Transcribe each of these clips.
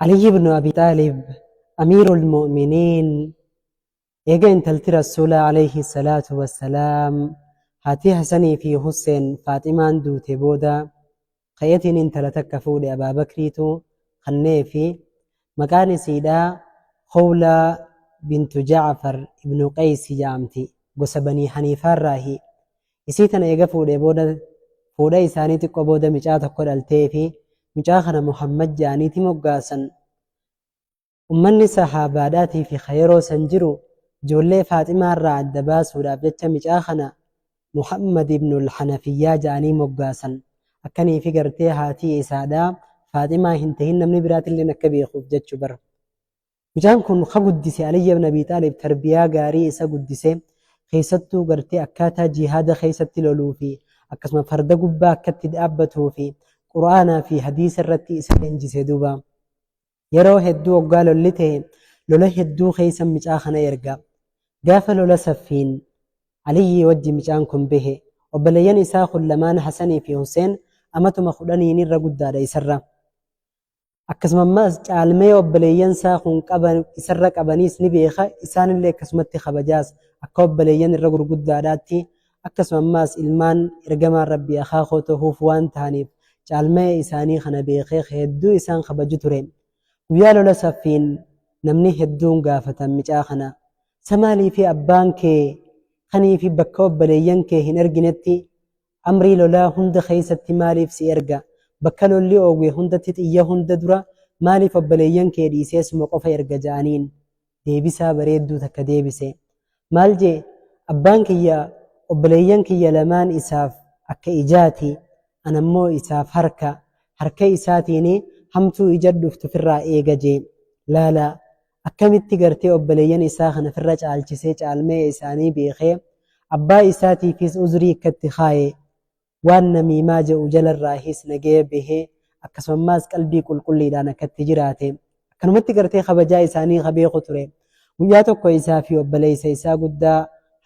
Aliyyi ibn Abi Xaalib Amiirul Mu'miniin eega intalti Rasuulaa alayhi salaatu wassalaam haatii Hasanii fi Husseen Faaximaan duute booda ka'eetiin intala takka fuudhe Abaa Bakriitu kanneefi maqaan isiidhaa Khowlaa bintu Ja'far ibnu Qeeysi ja'amti gosa Banii Haniifaarraahi Isii tana eega fuudhee booda fuudha isaanii xiqqoo booda micaa tokko dhaltee fi micaa kana Muhammad ja'aniiti moggaasan. Ummanni sahaabaadhaatii fi ka yeroo san jiru ijoollee Faaximaa irraa adda baasuudhaaf jecha micaa kana Muhammad ibnul Hanafiyyaa ja'anii moggaasan. Akkanii fi gartee haatii isaadhaa Faaximaa hin tahin namni biraatilleen akka beekuuf jechu bar. Mucaan kun ka guddise Aliyyi ibn Abii Xaalib tarbiyaa gaarii isa guddise, keessattuu gartee akkaataa jihaada keessatti loluu fi akkasuma farda gubbaa akka itti dhaabbatuu fi Qur'aanaa fi hadiisa irratti isa leenjise duuba. Yeroo hedduu oggaa lolli ta'e lola hedduu keessa mucaa kana erga. Gaafa lola Saffiin Aliyyii wajji mucaan kun bahe. Obboleeyyan isaa kun lamaan Hasanii fi Huseen amatuma kudhaniin irra guddaadha isarra. Akkasuma ammaas caalmaya obboleeyyan isaa kun qaban isarra qabaniis ni beeka, isaan illee akkasumatti kabajaas, akka obboleeyyan irra gurguddaadhaatti, akkasuma ammaas ilmaan ergamaan Rabbii akhaa koo tahuuf waan tahaniif caalmaya isaanii kana beekee ka hedduu isaan kabaju ture. Guyyaa lola Saffiin namni hedduun gaafatan micaa kana, sa maaliif abbaan kee kanii fi bakka obboleeyyan kee hin erginetti Amrii lolaa hunda keessatti maaliif si erga? Bakka lolli oowwe hundatti xiyya hunda dura maaliif obboleeyyan kee dhiisee suma qofa erga ja'aniin. Deebisaa bareedduu takka deebise. Maal je'e? Abbaan kiyya obboleeyyan kiyya lamaan isaaf akka ijaati, ana immoo isaaf harka. Harka isaatiin hamtuu ijatti dhuftu firraa eega je'e. Laalaa! Akkamitti gartee obboleeyyan isaa kana firra caalchisee caalmaya isaanii beekee abbaa isaatiifiis uzrii ikkatti kaaye waan namiimaa je'u jalarraahiis nagaya behee akkasumammaas qalbii qulqulliidhaan akkatti jiraate akkanumatti gartee kabajaa isaanii ka beeku ture guyyaa tokko isaa fi obboleeysa isaa guddaa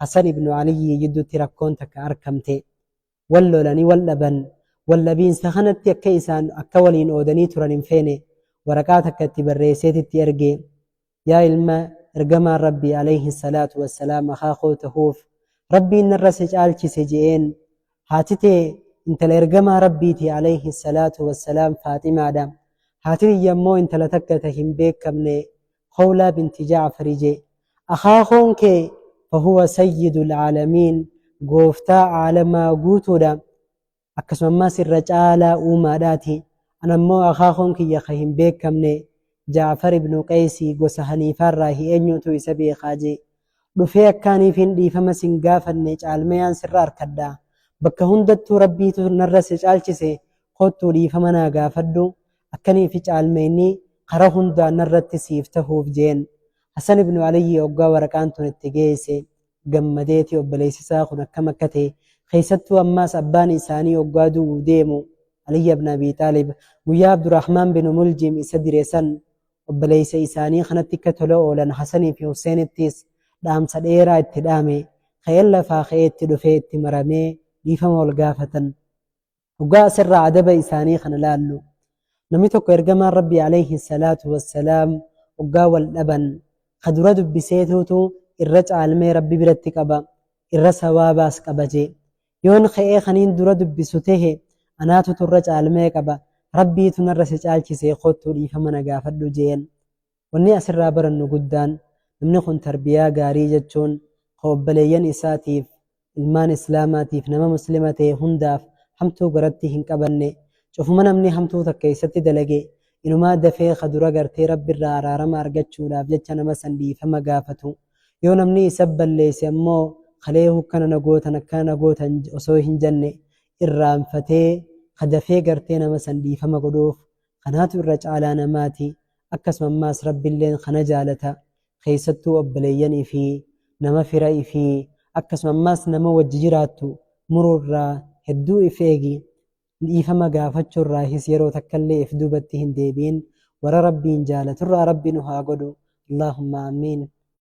Hasan ibnu Aliyyii jiddutti rakkoon takka arkamte wal lolanii wal dhaban, wal dhabiinsa kanatti akka isaan akka waliin oodanii turan hin feene, waraqaa takka itti barreesseet itti erge. Yaa ilma ergamaan Rabbii aleyhi salaatu wassalaam akhaa koo tahuuf Rabbiin narra si caalchise je'een. Haati tee intala ergamaa Rabbiiti aleyhi salaatu wassalaam Faaximaadha. Haati tiyya immoo intala takka ta hin beekkamne Khawlaa binti Ja'fari je'e, Akaakoon kee fahuwa sayyidul aalamiin, gooftaa aalamaa guutuudha, akkasuma ammaas irra caalaa uumaadhaati, ana ammoo akaakoon kiyya ka hin beekkamne, Ja'far ibnu Qaysi gosa Haniifaarraahi eenyuutu isa beekaa je'e. Dhufee akkaaniifin dhiifama sin gaafanne caalmayaan sirra arkadha. Bakka hundattuu Rabbiitu narra si caalchise, koottuu dhiifama naa gaafadhu, akkanii fi caalmeeynii kara hundaan narratti siif tahuuf jeen Hasan ibnu Aliyyi oggaa waraqaan tun itti geeyse gammadeeti obboleeysi isaa kun akkam akka tahe keeysattuu ammaas abbaan isaanii oggaa du'uu deemu Aliyyi ibn Abii Xaalib guyyaa Abdurahmaan binu Muljim isa dire san obboleeysa isaanii kanatti akka tola oolan Hasanii fi Huseenittiis dhaamsa dheeraa itti dhaame ka'een lafaa ka'ee itti dhufee itti maramee dhiifama wal gaafatan Dhugaa asirraa adaba isaanii kana laallu. Namni tokko ergamaan Rabbii alayhi salaatu wassalaam oggaa wal dhaban ka dura dubbiseetuutu irra caalmee Rabbi biratti qaba, irra sawaabaas qaba jee. Yoon ka'ee kaniin dura dubbisu tehe anaatutu irra caalmee qaba, Rabbiitu narra si caalchise koottuu dhiifama na gaafadhu jeen. Wanni asirraa barannu guddaan namni kun tarbiyaa gaarii jechuun ka obbaleeyyan isaatiif, ilmaan Islaamaatiif, nama Muslima ta'e hundaaf hamtuu garatti hin qabanne, cufuma namni hamtuu takka isatti dalage inumaa dafee ka dura gartee Rabbirraa araarama argachuudhaaf jecha nama san dhiifama gaafatu. Yoo namni isa balleesse ammoo kalee hukkana na gootan akkana na gootan osoo hin janne irraanfatee ka dafee gartee nama san dhiifama godhuuf Kanaatu irra caalaa namaati, akkasuma ammaas Rabbilleen kana jaalata. Keessattuu obboleeyyan ifii, nama fira ifii, akkasuma ammaas nama wajji jiraattu muruurraa hedduu if eegi. Dhiifama gaafachuurraahis yeroo takkallee if duubatti hin deebi'in. Warra Rabbiin jaalaturraa Rabbi nu haa godhu. Allaahumma Aamiin.